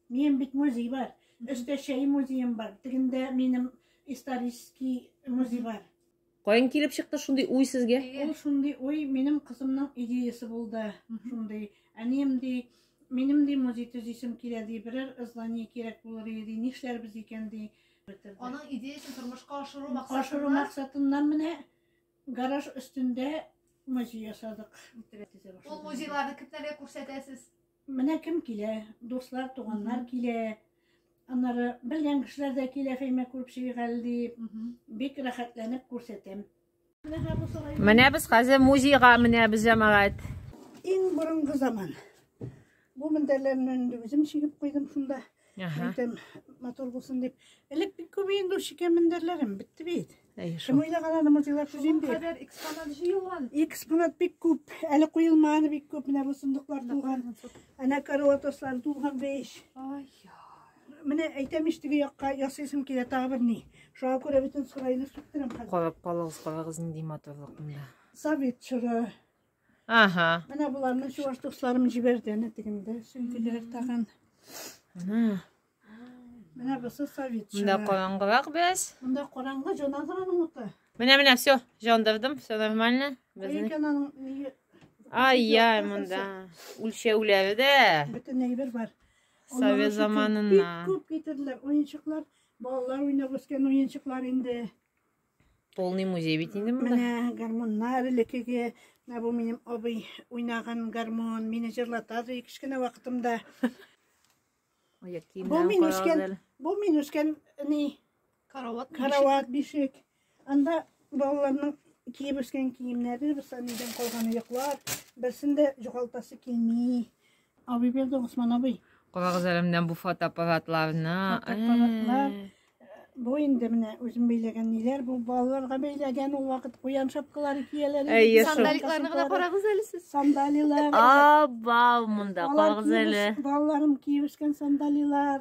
Минем бит музей бар. Өстә чәй музеем бар. Тегендә минем исторический музей бар. Каян килеп чыкты шундый уй сезгә? Ул шундый уй минем кызымның идеясы булды. Шундый әнием ди, минем ди музей төзисем килә ди, берәр здание кирәк булыр иде, нишләрбез икән ди. Аның идеясын тормышка ашыру максатыннан. Ашыру максатыннан менә гараж өстендә музей ясадык. Ул музейларны кемнәргә күрсәтәсез? Менә кем килә, дуслар, туганнар килә. Аннары белгән кешеләр дә килә Фәймә күреп чыгыйгал дип. Бик рәхәтләнеп күрсәтәм. Менә без хәзер музейга менәбез, җәмәгать. Иң борынгы заман. Бу мендәрләрне үзем чигеп куйдым шунда. Ага. Әйтәм, матур булсын дип. Элек бик күп инде ул шикәр мендәрләрем, бетте бит. Әй, Кем шул. уйлаган аны музейлар төзим дип. Кадәр экспонат җыелган. Экспонат бик күп, әле куелмаганы бик күп. Менә бу сундуклар тулган, әнә караватослар тулган беш. Ай, Менә әйтәм ич теге якка ясыйсым килә тагы бер ни. Шуңа күрә бөтен сарайны сүктерәм хәзер. Карап калыгыз, карагыз нинди матурлык монда. Совет чоры, Ага. Менә боларны чуваш дусларым җибәрде, әнә тегендә сөңгеләр тагын. Менә. Менә бусы совет. Монда караңгырак без. Монда караңгы җанадырның уты. Менә менә все, җандырдым, все нормально. Безнең. Ай, яй, монда. Үлчәүләре дә. Бөтен әйбер бар. Совет заманына. Бик күп китерделәр, уенчыклар, балалар уйнап үскән уенчыклар инде. Полный музей бит инде монда. Менә гармоннар элекеге, менә бу минем абый уйнаган гармон, мине җырлата ди кечкенә вакытымда. Бу мин үскән, бу мин үскән ни карават, карават бишек. Анда балаларның киеп үскән киемнәре, бер санидан калган йоклар, берсендә җугалтасы килми. Абый берде Госман абый. Карагыз әле менә бу фотоаппаратларны. Фотоаппаратлар. Э. Бу инде менә үзем бәйләгән ниләр, бу балаларга бәйләгән ул вакыт куян шапкалары кияләр. Әйе, сандаликларны гына карагыз әле сез. Сандалилар. Абау, монда карагыз әле. Балаларым киеп үскән сандалилар.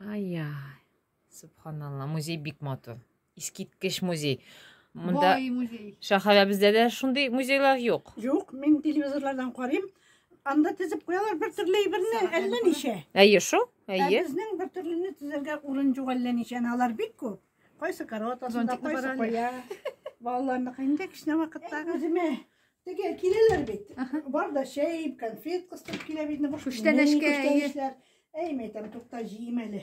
Ай-яй. Субханалла, музей бик матур. Искиткеч музей. Монда Бай музей. шәһәребездә дә шундый музейлар юк. Юк, мин телевизорлардан карыйм. Анда тезеп куялар бер төрле әйберне, әллә ничә. Әйе шул? Ә Әйе. безнең бер төрлене тезергә урын юк әллә ничә. Әнә алар бик күп. Кайсы корот астында, Зонтикны кайсы барале. куя. Балаларныкы инде кечкенә вакыттагы. Үземә Теге киләләр бит. Бар да чәй, конфет кыстырып килә бит. Күчтәнәшкә. Күчтәнәшләр. Әй, мәйтәм, тукта җыйм әле.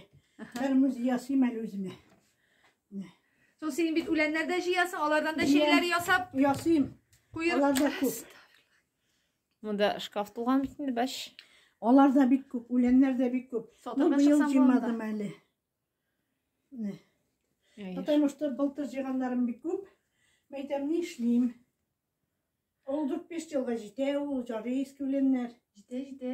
Бер муз ясыйм әле үземә. Сол син бит үләннәр дә җыясың, алардан да чәйләр ясап. Ясыйм. Куер. Алар да күп. Монда шкаф тулган бит инде, баш. Алар да бик күп, үләннәр дә бик күп. Ну, быел җыймадым әле. Потому что былтыр җыйганнарым бик күп. Мәйтәм, ни эшлим? Ул 4-5 елга җитә, ул җары искүленнәр. Җитә, җитә.